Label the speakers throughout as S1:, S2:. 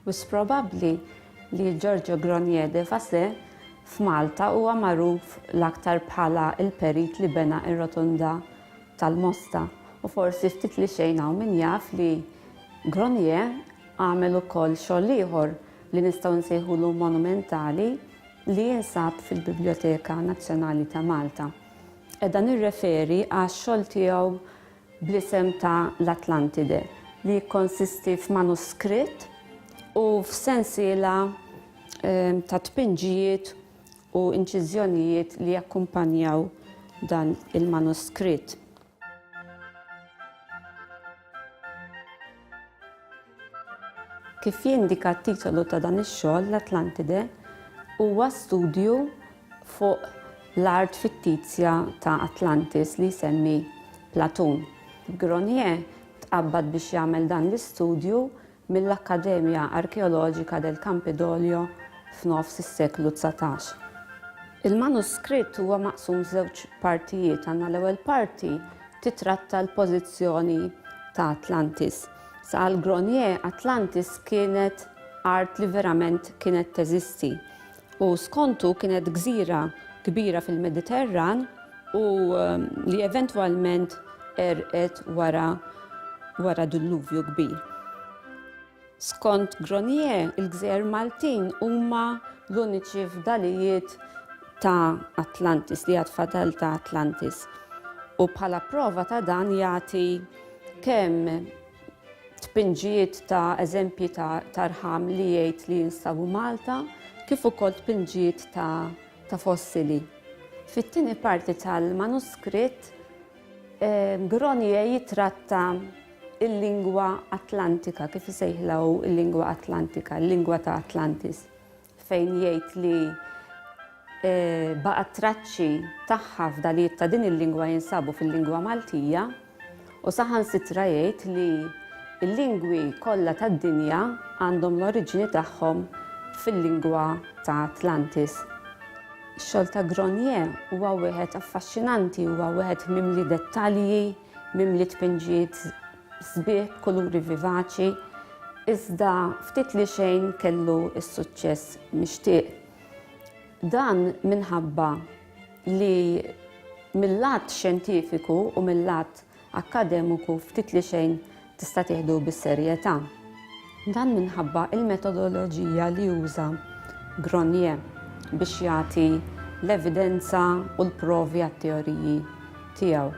S1: Mhux probabbli li Giorgio Gronier de Fassé f'Malta huwa magħruf l-aktar bħala l-perit li bena r-Rotunda tal-Mosta u forsi ftit li xejn hawn min jaf li Gronier Għamel ukoll xogħol ieħor li nistgħu nsejħulu monumentali li jinsab fil-Bibljoteka Nazzjonali ta' Malta. Qiegħda nirreferi għax-xogħol tiegħu bl-isem ta' L-Atlantide li jikkonsisti f'manuskritt u f'sensiela ta' tpinġijiet u inċiżjonijiet li jakkumpanjaw dan il-manuskritt. Kif jindika t-titolu ta' dan ix-xogħol, l-Atlantide huwa studju fuq l-art fittizja ta' Atlantis li jsemmi Platun. Grenier tqabbad biex jagħmel dan l-istudju mill-Accademia Archeologica del Campidoglio f'nofs is-seklu dsatax. Il-manuskritt huwa maqsum f'żewġ partijiet, għandna l-ewwel parti titratta l-pożizzjoni ta' Atlantis. Saqal Gronier, Atlantis kienet art li verament kienet teżisti. u skontu kienet gżira kbira fil-Mediterran u li eventwalment għerqet wara wara dilluvju kbir. Skont Gronier, il-gżejjer Maltin huma l-uniċi fdalijiet ta' Atlantis, li għad fadal ta' Atlantis. U bħala prova ta' dan jagħti kemm tpinġijiet ta' eżempji ta' tarħam li jgħid li jinstabu Malta, kif ukoll tpinġijiet ta' ta' fossili. Fit-tieni parti tal-manuskritt, eh, Gronier jitratta il-lingwa Atlantika, kif isejħla hu il-lingwa Atlantika, il-lingwa ta' Atlantis. fejn jgħid li baqgħet traċċi tagħha fdalijiet ta' din il-lingwa jinsabu fil-lingwa Maltija u saħansitra jgħid li l-lingwi kollha tad-dinja għandhom l-oriġini tagħhom fil-lingwa ta' Atlantis. Ix-xogħol ta' Gronier huwa wieħed affaxxinanti, huwa wieħed mimli dettalji, mimli tpinġiet sbieħ b'kuluri vivaċi, iżda ftit li xejn kellu s-suċċess mixtieq. Dan minħabba li mill-lat xjentifiku u mill-lat akkademiku ftit li xejn tista' tieħdu bis-serjetà. Dan minħabba l-metodoloġija li uża Gronier biex jagħti l-evidenza u l-provi għat-teoriji tiegħu.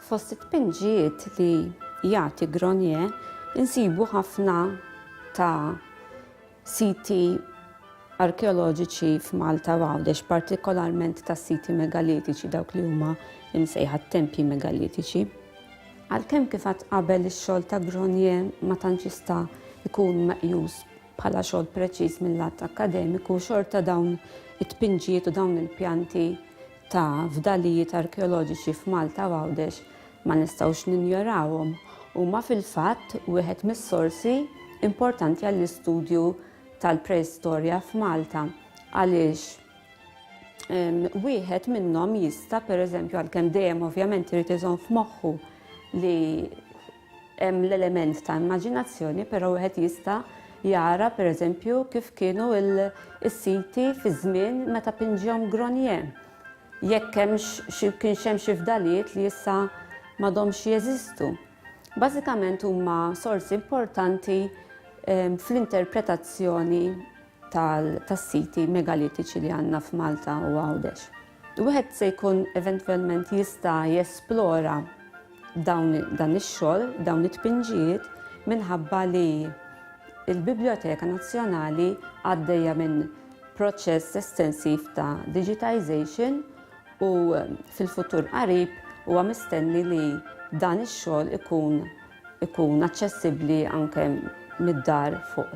S1: Fost it-tpinġijiet li jagħti Grenier insibu ħafna ta' siti arkeoloġiċi f'Malta u Għawdex, partikolarment ta' siti megalitiċi, dawk li huma msejħa t-tempji megalitiċi. Għalkemm kif għadt qabel ix-xogħol ta' Grenier ma tantx jista' jkun meqjus bħala xogħol preċiż mil-lat akkademiku, xorta dawn it-tpinġijiet u dawn il-pjanti ta' fdalijiet arkeoloġiċi f'Malta u Għawdex ma nistgħux ninjorawhom. Huma fil-fatt wieħed mis-sorsi importanti għall-istudju tal-preistorja f'Malta għaliex wieħed minnhom jista' pereżempju għalkemm dejjem ovvjament irid iżomm f'moħħu li Hemm l-element ta' immaġinazzjoni però wieħed jista' jara pereżempju kif kienu s-siti fiż-żmien meta pinġihom Gronier. Jekk hemmx xi kienx hemm xi fdalijiet li issa m'għadhomx jeżistu. Bażikament huma sorsi importanti fl-interpretazzjoni tas-siti megalitiċi li għandna f'Malta u Għawdex. Wieħed se jkun eventwalment jista' jesplora dawn dan ix-xogħol, dawn it-tpinġijiet minħabba li l-Biblioteka Nazzjonali għaddejja minn proċess estensiv ta' digitization u fil-futur qarib huwa mistenni li dan ix-xogħol ikun ikun aċċessibbli anke mid-dar fuq